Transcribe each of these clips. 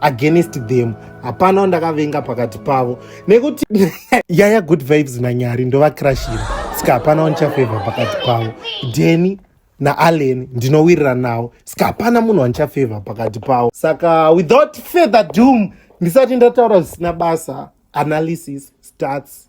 against them hapana wandakavenga pakati pavo nekuti yaya good vibes nanyari ndovakirashira sika hapana wandichafevha pakati pavo deni naallen ndinowirira nawo sika hapana munhu wandichafevha pakati pavo saka without further doom ndisati ndataura zvisina basa analysis starts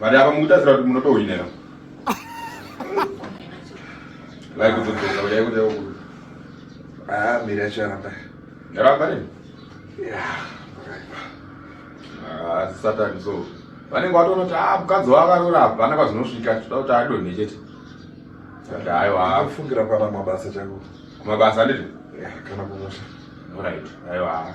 Vale apa mukutarisira kuti munotohwinera. Vai kutodzoka uya kuti yakuda. Ah, mira charamba. Yaramba ne? Yeah. Ah, Satan so. Vanenge vatoona kuti ah mukadzi wakarora hapana kwazinosvika toda kuti adonhe chete. Saka hayo ah. Kufungira pana mabasa changu. Mabasa ndizvo? Yeah, kana kumusha. All right. Hayo ah.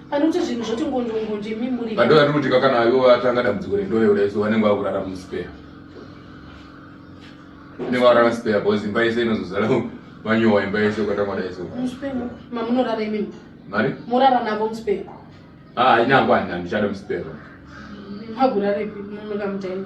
Panoita zvinhu zvoti ngonjo ngonjo imi muri. Vandu vari kuti kana ivo vatanga dambudziko rendoyo raiso vanenge vakurara muspare. Vanenge vakurara spare because imba yese inozozara vanyowa imba yese ukatangwa daiso. Muspare mamunorara imi. Mari? Morara navo muspare. Ah, ina ngwanda ndichada muspare. Magurare pi munokamutaini.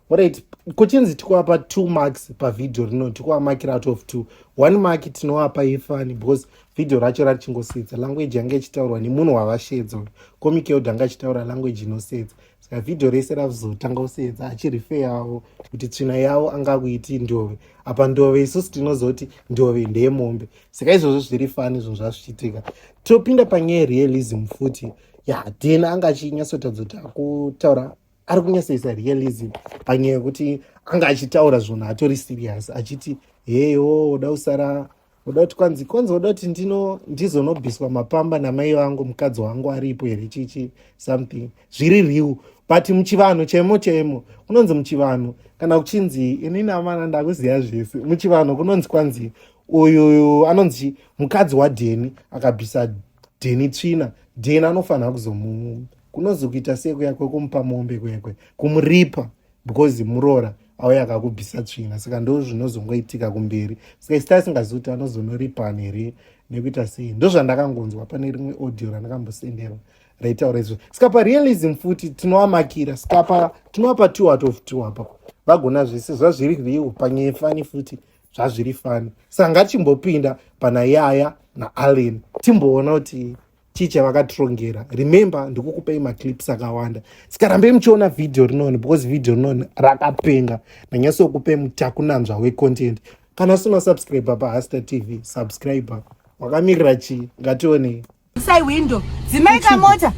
Right. Kuchinzi tikuapa two marks pavideo rino tikuamakira out of two. One mark tinoapa ifani because video racho ratichingosiyedza language yanga ichitaurwa nemunhu wavashedza uyu. Comic yod anga achitaura language inosiyedza. Saka video rese ravzotanga kusiyedza achirife yavo kuti tsvina yavo anga kuiti ndove. Apa ndove isusu tinozoti ndove ndeye mombe. Saka izvozvo zviri fani izvo zvazvichitika. Topinda panyaya realism futi. Ya, Dena anga achinyatsotadzo takutaura ari kunyatsoisa realism panyaya yekuti anga achitaura zvunhu atori serious achiti heyo uda kusara uda kuti kwanzi kwanzi uda kuti ndino ndizonobviswa mapamba namai vangu mukadzi wangu aripo here chichi something zviri real but muchivanhu chemo chemo kunonzi muchivanhu kana kuchinzi inini amana ndakuziva zvese muchivanhu kunonzi kwanzi uyuyu anonzi mukadzi wadheni akabvisa dheni tsvina dheni anofanira kuzomu kunozokuita sei kuya kwekumupa mombe kwekwe kumuripa because muroora auya akakubvisa tsvina saka ndo zvinozongoitika kumberi saka isi taisingazivi kuti anozonoripani here nekuita sei ndozvandakangonzwa pane rimwe audio randakambosenderwa raitaura izvo saka parealism futi tinovamakira saka tinovapa two out of two apa vagona zvese zvazviri riwo panyaya fani futi zvazviri fani saka ngatimbopinda pana yaya naallen timboona kuti ticha vakatirongera remember ndikukupai maclips akawanda sikarambei muchiona vhidhiyo rinoni because vhidhiyo rinoni rakapenga ndanyasokupai mutakunanzva wecontent kana usina kusubscribe pa hasta tv subscribe wakamirira chii ngationei sai window dzimai kamota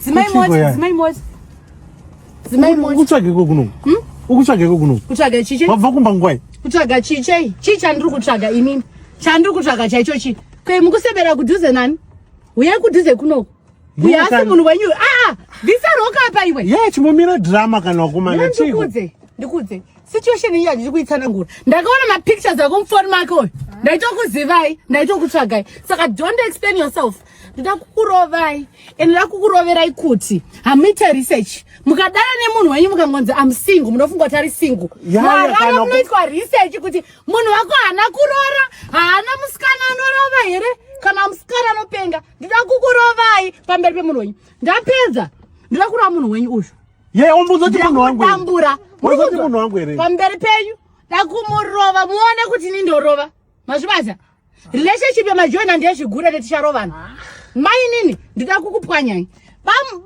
dzimai mota dzimai mota dzimai mota ukutsvageko kuno hmm? ukutsvageko kuno kutsvaga chiche wabva kumba ngwai kutsvaga chiche chii chandiri kutsvaga inini chandiri kutsvaga chaicho chii Kwe mukusebera kudhuze nani? Uye kudhuze kunoku. Uye asi munhu wenyu. Ah, visa roka apa iwe. Yeah, chimomira drama kana wakumana chiko. Ndikudze, ndikudze. Situation iyi handisi kuitsana ngura. Ndakaona ma pictures ako mufoni make oyo. Ndaitokuzivai, ndaitokutsvagai. Saka don't explain yourself. Ndida kukurovai. And ndida kukuroverai kuti hamuite research. Mukadana nemunhu wenyu mukangonzi I'm single, munofunga kuti ari single. Yeah, yeah, kana kunoitwa research kuti munhu wako haana kurora haana musikana anorova here kana musikana anopenga ndida kukurovai pamberi pemunhu wenyu ndapedza ndida kurova munhu wenyu uyu yeumbuzotimunhuwanguambura munhu wangu here pamberi penyu dakumurova muone kuti ini ndorova mazvibaza relationship yemajoina ndezvigure netisharovana ah. mainini ndida kukupwanyai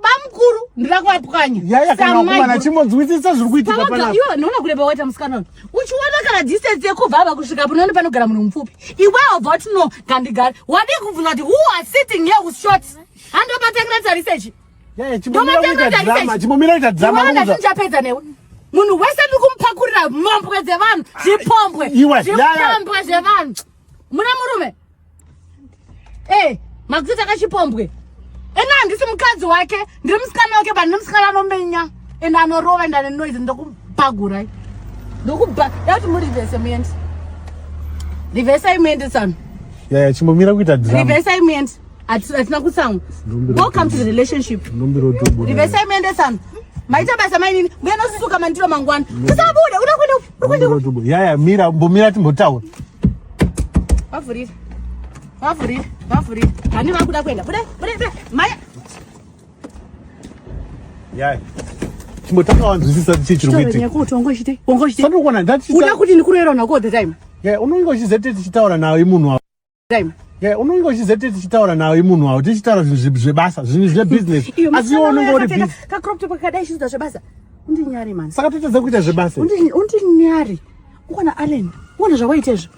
bamukuru ndida kuvapwanya yayakanakumana chimonzwisisa zviri kuitika panapa iwe unoona kureba waita musikana uyu uchiona kana distance yekubva ava kusvika panoona panogara munhu mupfupi iwe obva uti no kandigari wadii kubvunza kuti who are sitting here with shorts handobatangira tarise chi Yeah, chimbomira kuita drama, chimbomira kuita drama. Iwe ndati ndichapedza newe. Munhu wese ndiri kumupakurira mhombwe dzevanhu, zvipombwe, zvipombwe zvevanhu. Muna murume. Eh, makuita kachipombwe. Ena handisi mukadzi wake, ndiri musikana wake, but ndiri musikana anomenya and anorova and ane noise ndokupagurai. Ndokuba, yati muri vese muende. Rivesai muende tsano. Yeah, yeah, chimbomira kuita drama. Rivesai muende. hatina kutsamwa welcome to the relationship rivesai muendesano maita basa mainini mbuya nosusuka mandiro mangwana usabude unakwende yaya mira mbomira timbotaura vavhurire vavhurire vavhurire hani vakuda kuenda bude bude bude maya yaya chimbotaura wanzwisisa chii chiri kuitikaoona kuti ndikurerana ko the time unonge uchizete tichitaura nawo imunhu time Yeah, unenge uchizete tichitaura nawo imunhu wawo tichitaura zvinhu zvebasa zvinhu zvebusiness asi iwe unenge uri busy kaCrop top kakadai chiita zvebasa undinyari mani saka totadza kuita zvebasa undinyari ukona Allen uona zvawaita izvo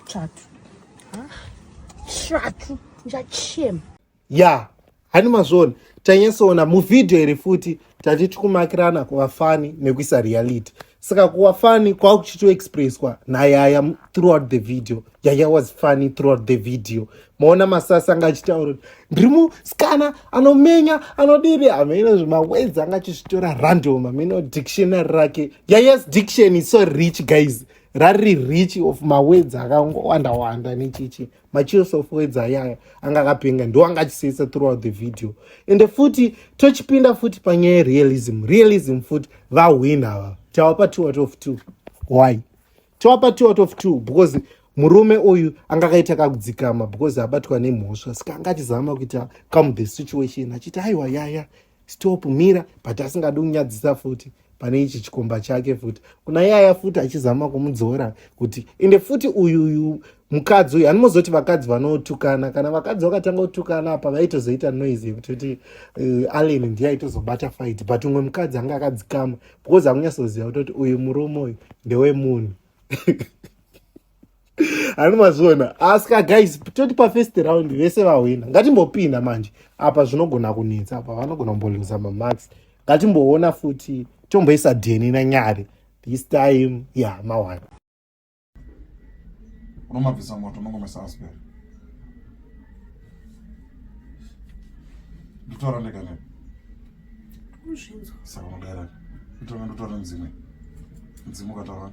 chatu chatu ndichachema ya hani mazvoni tanyasoona muvhidhiyo here futi tati tikumakirana kuva fani nekuisa reality saka kuva fani kwava kuchitoexpresswa nayaya throughout the video yaya was funny throughout the video maona masasi anga achitaura kuti ndiri musikana anomenya anodiri hameno zvimawedzi anga achizvitora random hameno dictionary rake yayas diction is so rich guys rari rich of mawedzi akangowanda wanda nechichi macheers of words ayaya anga akapenga ndo anga achisetsa throughout the video ende futi tochipinda futi panyaya yerealism realism futi vahwin ava tawapa two out of two why tawapa two out of two because murume uyu anga akaita kakudzikama because abatwa nemhosva saka anga achizama kuita come the situation achiti aiwa yaya stop mira but asingadi kunyadzisa futi pane ichi chikomba chake futi kuna yaya futi achizama kumudzora kuti ende futi uyu uyu mukadzi uyu hanimozoti vakadzi vanotukana kana vakadzi vakatanga kutukana apa vaitozoita noise yekuti kuti uh, eh, allen ndiye aitozobata fight but umwe mukadzi anga akadzikama because akunyatsoziva kutoti uyu murume uyu ndewemunhu ani mazviona asika guys toti pafirst round vese vahwina ngatimbopinda manje apa zvinogona kunetsa apa vanogona kumboluza mamax ngatimboona futi tomboisa dheni nanyari this time ya yeah, mawana unomabvisa moto unongomesa asper nditora ndega ne saka unodaira nditora ndotora ndzimwe ndzimwe ukataura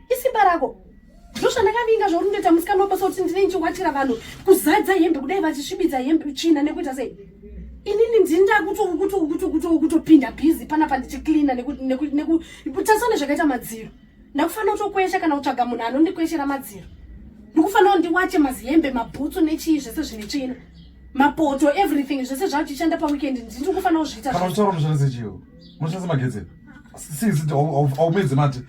isimba rako ndozvandakavinga zvauri ndoita musikana wabasa kuti ndine ndichiwatira vanhu kuzadza hembe kudai vachisvibidza hembe tsvina nekuita sei inini ndini ndakutokutokutokutokutopinda bhizi panapa ndichiklina nekutasane zvakaita madziro ndakufanira kutokwesha kana kutsvaga munhu anondikweshera madziro ndikufanira ndiwache mazihembe mabhutsu nechii zvese zvine tsvina mapoto everything zvese zvachichanda paweekend ndiri kufanira kuzviita kana uchitaura munoshandisa chio munoshandisa magetsi sisi aumedze mati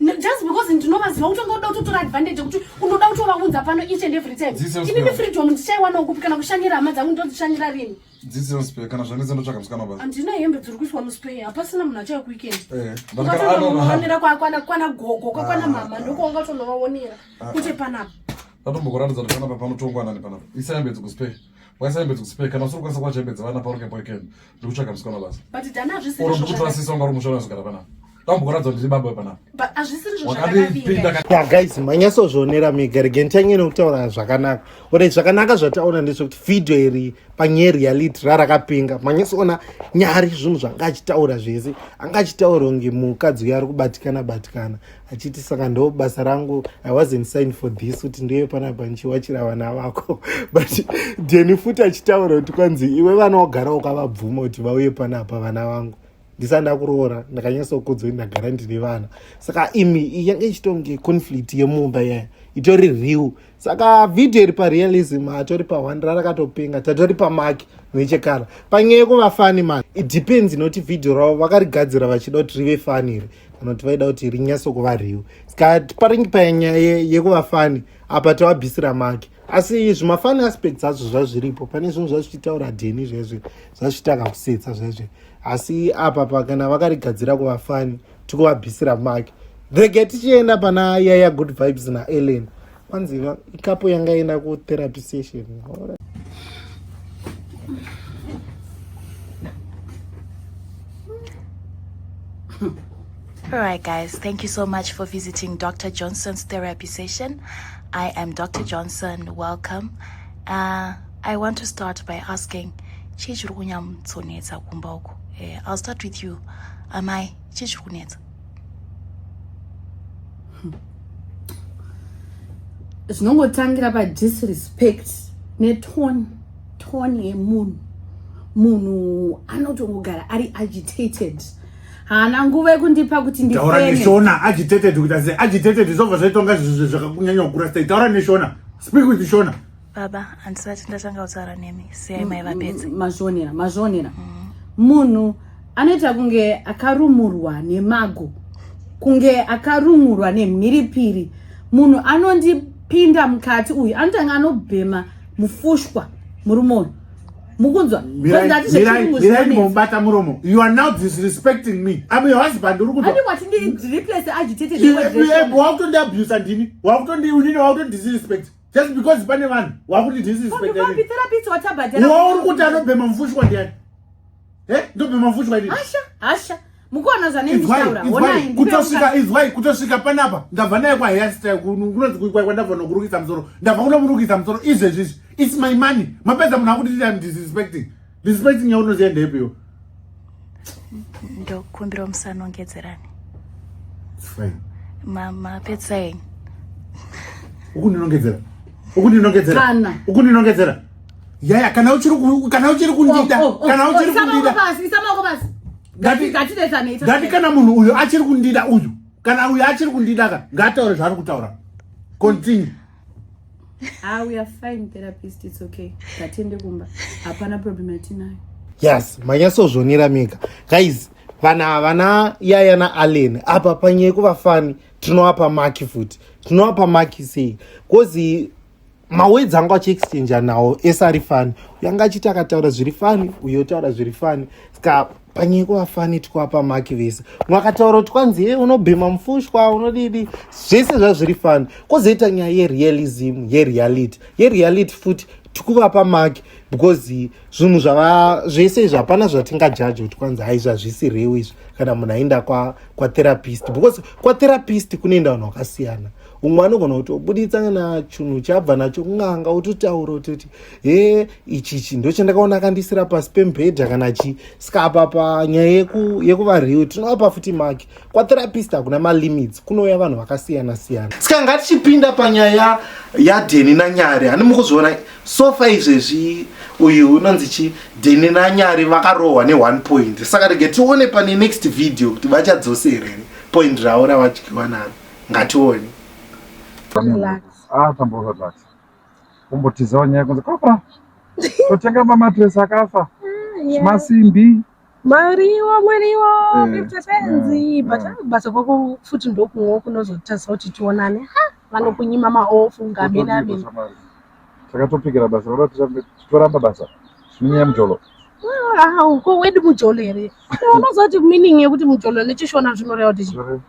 just because ndinovaziva kuti ungoda kutotora advantage yekuti unoda kutovaunza pano each and every time inini freedom ndichaiwana ukupi kana kushanyira hama dzangu ndodzishanyira rini dzidzinospe kana zvanetsa ndotsvaka musikana basa handina hembe dziri kuiswa muspe hapasina munhu achauya kuweekend eh, ukatonoonera kwakwana kwana gogo kwakwana ah, mama ah. ndoko wanga utonovaonera ah, kuti panapa ndatombokuratidza kuti panapa panotongwa nani panapa isayambedzi kuspe waisayembedza kusipeka kana usiri kukwanisa kuwachembedza vana paruke poikeni ndiri kutsvaga musikana basa but dani hazvisiri or ndikuti vasisa unga uri mushona wezogara panapa tambokuratidza ndiri baba panapa but hazvisiri zvo zvakandipinda ya guys manyasozvionera mega rege nditange nekutaura zvakanaka ore zvakanaka zvataona ndezvekuti video iri panyaya reality rarakapinga manyasoona nyari zvinhu zvanga achitaura zvese anga achitaura kunge mukadzi uyo ari kubatikana batikana achiti saka ndo basa rangu i wasn't signed for this kuti ndiye panapa ndichiwachira vana vako but deni futi achitaura kuti kwanzi iwe vana wagara ukavabvuma kuti vauye panapa vana vangu ndisati ndakuroora ndakanyatsokudzwa kuti ndagara ndine vana saka imi yange ichitonge conflict yemumba yaya itori real saka vhidhiyo iri parealism hatori pahwandira rakatopenga tatori pamaki nechekara panyaya yekuva fani ma it depends inoti vhidhiyo ravo vakarigadzira vachida kuti rive fani iri kana kuti vaida kuti rinyatso kuva riwo ska paringi panyaya yekuva fani apa tavabvisira maki asi zvimafani aspects azvo zvazviripo pane zvinhu zvazvichitaura dheni zvezve zvazvitaka kusetsa zvezve asi apa pakana vakarigadzira kuva fani tikuvabvisira make rege tichienda pana yaya good vibes naellen kwanzi ikapo yanga enda kutherapy session All right, guys, thank you so much for visiting Dr. Johnson's therapy session. I am Dr. Johnson. Welcome. Uh, I want to start by asking chii chiri kunyatsonetsa kumba uko uh, eh, i'll start with you amai chii chiri kunetsa hmm. zvinongotangira padisrespect netone tone yemunhu munhu anotongogara ari agitated haana nguva yekundipa kuti nditaura neshona agitated kuita se agitated zvobva zvaitonga zvakakunyanya kukura sei taura neshona speak with shona baba handisati ndatanga kutaura nemi siyai mai vapedze mazvionera mazvionera mm. munhu anoita kunge akarumurwa nemago kunge akarumurwa nemhiripiri munhu anondipinda mukati uyu anotanga anobhema mufushwa murume uyu mukunzwa mubata muromo you are now disrespecting me am your husband uri kuakutondiabusa ndini wakutondiunini wakutondidisrespect just because pane vanhu wakuti disrespectwauri kuti anobhema mufushwa ndiani eh, ndobhema mufushwa ndii mukuona zvanekutosvika izwai kutosvika panapa ndabva naye kwahairstyle kunonzi kuikwai kwandabva nokurukisa musoro ndabva kunokurukisa musoro izvezvizvi its my money mapedza munhu akuti tiam disrespecting respecting yaunoziva ndeepiwo ndokumbirawo musanongedzerani fine mapedzisa enyu ukundinongedzera ukundinongedzera ukundinongedzera yaya kana uchiri kana uchiri kundida oh, oh, oh, kana uchiri kundida ngati kana munhu uyu achiri kundida uyu kana uyu achiri kundida ka ngaataure zvaari kutaura continue Ah, we are fine therapist, it's okay. Tatende kumba. Hapana problem yatinayo. Yes, manyasozvonera mega. Guys, vana vana yaya na Allen apa panyeye kuvafani tinowapa maki futi. Tinowapa maki sei? Kozi mawedzi anga achiexchange nawo ese ari fani. Uyo anga achiti akataura zviri fani, uyo otaura zviri fani. Ska panyiko vafani twapa maki vese mwakataura kuti kwanzi ye unobhema mufushwa unodidi zvese zvazviri fani kozoita nyaya yerealism yereality yereality futi tikuvapa maki because zvinhu zvava zvese izvi hapana zvatingajaji kuti kwanzi hai zvazvisi rewo izvi kana munhu aenda kwatherapist kwa because kwatherapist kunoenda vanhu vakasiyana umwe anogona kutobuditsa kana chinhu chabva nacho kunganga utotaura utoti he ichi chi ndochandakaona akandisira pasi pemubhedha kana chi saka apa panyaya yekuva real tinovapa futi maki kwatherapist hakuna malimits kunouya vanhu vakasiyana siyana saka ngatichipinda panyaya yadheni nanyari hani mukuzviona sofa izvezvi uyu unonzi chi dheni nanyari vakarohwa ne1 point saka rege tione pane next video kuti vachadzoserere point ravo ravadyiwa naro ngatione atamboza ah, tax kumbotizawo nyaya kunzi kapa totenga mamatress akafa ah, masimbi mariwo mariwo eh, mipfepenzi eh, but eh. basa kwako futi ndokumwe kunozotarisa kuti tionane vanokunyima maofu ngamenameni takatopikira basa roda titoramba basa zvinyaya mujolo ah, ko wedu mujolo here unozoti meaning yekuti mujolo nechishona zvinoreva kuti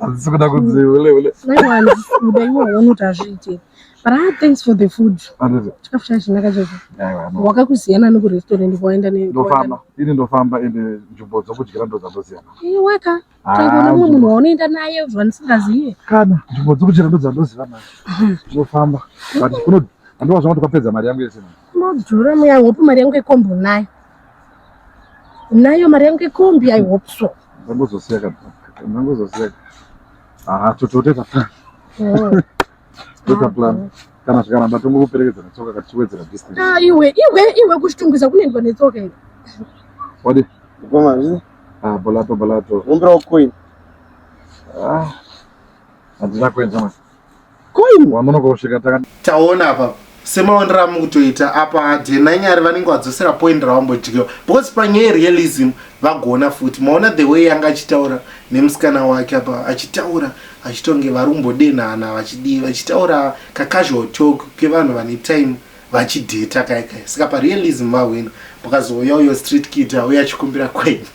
Hazvisi kuda kunzi ule ule. Kuda iwe unoti hazviite. But I thanks for the food. Chikafu chacho chinaka chacho. Wakakuziyana neku restaurant kwaenda ne. Ndofamba. Ini ndofamba ende nzvimbo dzokudyira ndo dzandoziyana. Iwe weka. Tangona mumwe munhu waunoenda naye zvandisingazive. Kana nzvimbo dzokudyira ndo dzandoziva manje. Ndofamba. But kuno handova zvamati kwapedza mari yangu yese. Madhura muya hope mari yangu yekombo nayo. Nayo mari yangu ikombi I hope so. Ndangozosiya ka. Ndangozosiya. Ah, totote tafana. Oh. Tota plan. Kana zvikaramba tongokuperekedza netsoka katichiwedzera distance. Ah, iwe, iwe, iwe kuchitungwiza kunoendwa netsoka iwe. Wadi? Koma zvi? Ah, bolato bolato. Umbira coin. Ah. Andina kuenda mwana. koini wamunoka kusvika taka taona apa semaonero amukutoita apa dna nyari vanenge vadzosera point ravambodyiwa because panyaya realism vagona futi maona the way yanga achitaura nemusikana wake apa achitaura achitonge vari kumbodenhana vachidii vachitaura kacasual talk kevanhu vane time vachidheta kaikai saka parealism vahwina pakazouya uyo street kid auya achikumbira kwenyu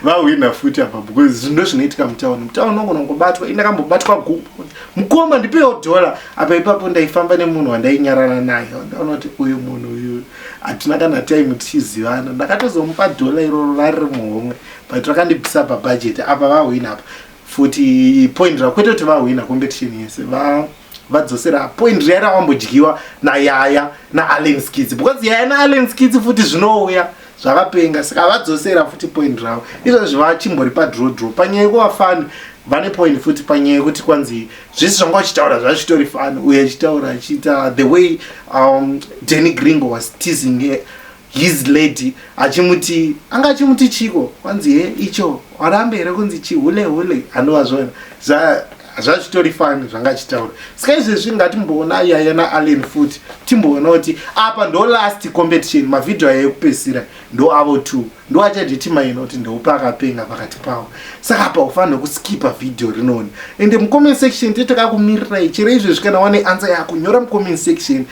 vahwina futi apa because zvinhu ndozvinoitika mutown mutown unogona kungobatwa ini ndakambobatwa guku mukoma ndipewo dhola apa ipapo ndaifamba nemunhu wandainyarana naye ndaona kuti uyu munhu uyu hatina kana time tichizivana ndakatozomupa dhola iroro rari rimuhomwe but rakandibvisa pabhajeti apa vahwina apa futi point rakwete kuti vahwina competition yese va, va vadzosera point riya rawambodyiwa nayaya naallen skidzi because yaya naallen skidzi futi zvinouya zvakapenga saka vadzosera futi point ravo izvozvi vachimbori padro dro panyaya yekuva fani vane point futi panyaya yekuti kwanzi zvese zvanga vachitaura zvachitori fani uye achitaura achiita the way um, denny gringo was teasing his lady achimuti anga achimuti chiko kwanzi he icho warambe here kunzi chihule hule anova zvona zvazvitori fani zvanga achitaura saka izvezvi ngatimboona yaya naallen futi timboona kuti apa ndo last competition mavhidhiyo aya ekupedzisira ndo avo t ndo achadetimaina kuti ndoupe akapenga pakati pavo saka apa ufanira kuskipa vhidhiyo rinoni ende mucomment section titakakumirirai chero izvezvi kana wane ansa yako nyora mucomment section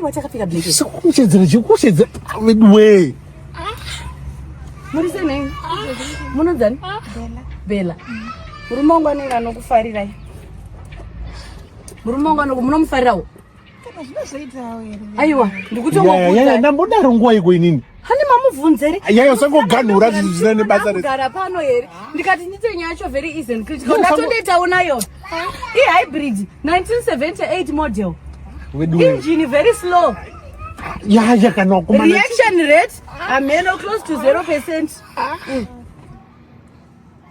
Wachakapfeka black. Sikuchedzera chikuchedza weduwe. Muri senei? Munodzani? Bella. Bella. Murume wangu anenge anokufarirai. Murume wangu anoko munomufarirawo. Kana zvinozoitawo here? Aiwa, ndikutongokuudza. Yaya, ndambodaro nguwa iko inini. Hani mamubvunze ri? Yaya usangoganhura zvinhu zvisina nebasa rese. Gara pano here? Ndikati ndite nyaya yacho very easy and critical. Ndatondoita ona yo. I hybrid 1978 model. Wedu. Engine very slow. Yaya kana kuma. Reaction rate ameno close to 0%. Mm.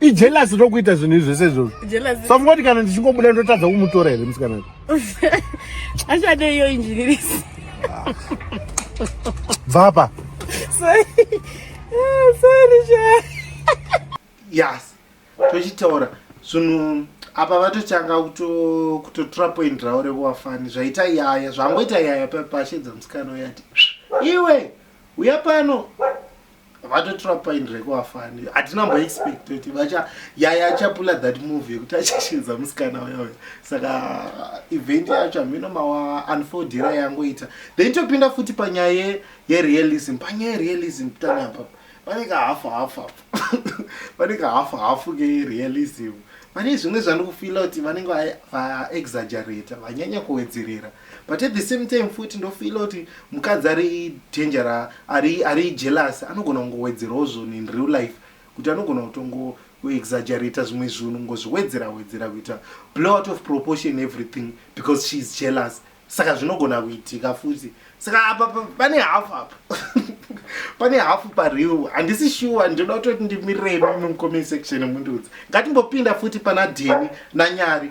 ijelasi rokuita zvinhu izvi zvese izvozvo samungoti kana ndichingobuda ndotadza kumutora here musikana achade iyo injinirisi bvapa yes tochitaura zvinhu apa vatotanga kutotora point ravo rekuwafani zvaita yaya zvangoita yaya pashedza musikana uyati iwe uya pano vatotora point reko afani hatina mbo expect kuti vacha yaya achapula that move yekuti achashinza musikana uya uya saka event yacho hamino mawa unfoldira yangoita then topinda futi panyaya yerealism panyaya yerealism kutanga apapo pane kahafu hafu apo pane kahafu hafu kerealism pane zvimwe zvandikufila kuti vanenge vaexagerata vanyanya kuwedzerera va But at the same time futi ndofeela kuti mukadzi ari danger ra ari ari jealous anogona kungowedzerawo zvinhu in real life kuti anogona kutongo exaggerata zvimwe zvinhu ngozviwedzera wedzera kuita blow out of proportion everything because she is jealous saka zvinogona kuitika futi saka apa pane hafu apa pane hafu pareal handisi shuwa ndinoda kutoti ndimirirei mimi mucomment section mundiudza ngatimbopinda futi pana deni nanyari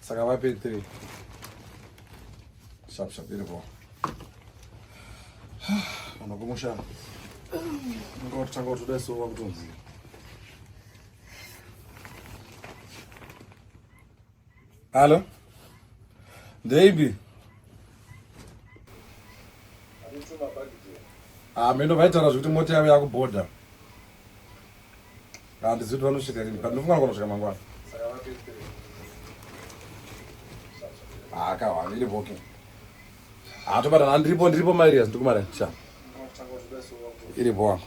saka vape three sharp sharp iripo vanhu kumusha ngotanga kutoda so vakutonzi hallo ndeipi hameno ah, vaitaura zvekuti mota yavo yakubhodha handizivi kuti vanosvika rini but ndofunga anogona kusvika mangwana haakahwani iri boking haatobatana handiripo ndiripo mairias ndikumara sha iri boa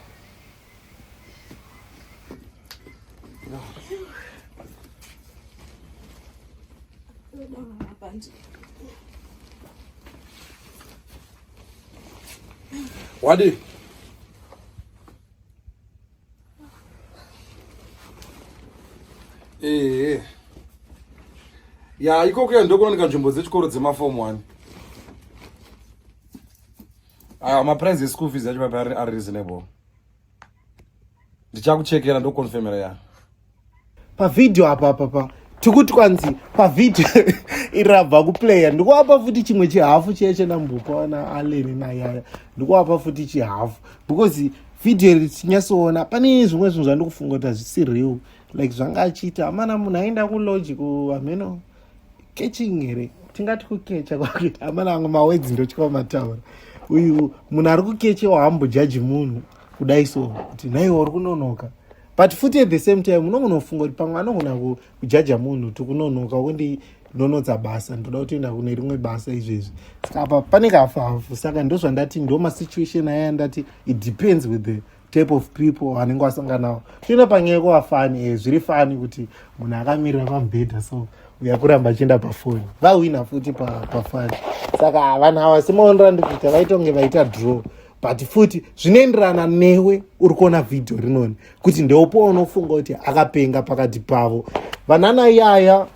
Wadi. ehe eh. ya ikoko ya ndokunonika nzvimbo dzechikoro dzemafom one aya ah, maprice eschool fees yacho papi ari reasonable ndichakuchekera ndokonfemera ya pavhidhiyo apa papa tikuti kwanzi pavhidhiyo iri rabva kuplaya ndikuapa futi chimwe chihafu chiya chenambupa wana aleni nayaya ndikuapa futi chihafu because vhidhiyo iri tinyatsoona pane zvimwe zvinhu zvandikufunga kuti hazvisi real like zvanga achiita amana munhu aenda kuloji kuhameno catching here tingati kukecha kwakuita amana angu mawedzi ndotyava mataura uyu munhu ari kukechewa hambojaji munhu kudai so kuti naiwo uri kunonoka but futi at the same time unongonofunga kuti pamwe anogona kujaja munhu tikunonoka kundi ndonotsa basa ndoda kutoenda kune rimwe basa izvezvi saka apa pane kafu hafu saka ndozvandati ndomasituation aya ndati it depends with the type of people anenge wasanganawo toenda panyaya yekuva fani e eh, zviri fani kuti munhu akamirira pamubhedha so uya kuramba achienda pafoni vahwina futi pafani saka vanhu ava semaonera ndikuita vaitonge vaita draw but futi zvinoenderana newe uri kuona vhidhiyo rinoni kuti ndeopo waunofunga kuti akapenga pakati pavo vanana yaya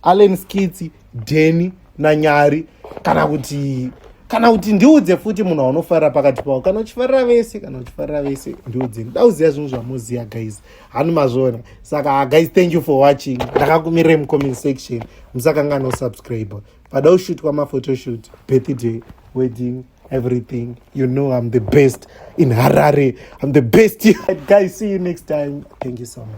allen skitsi deni nanyari kana kuti kana kuti ndiudze futi munhu waunofarira pakati pavo kana uchifarira vese kana uchifarira vese ndiudze ndida kuziva zvinhu zvamoziva guys hanu mazviona saka guys thank you for watching ndakakumirai mucomment section musakangana usubscribe pada kushutwa maphotoshoot birthday wedding everything you know i'm the best in harare i'm the best guys see you next time thank you so much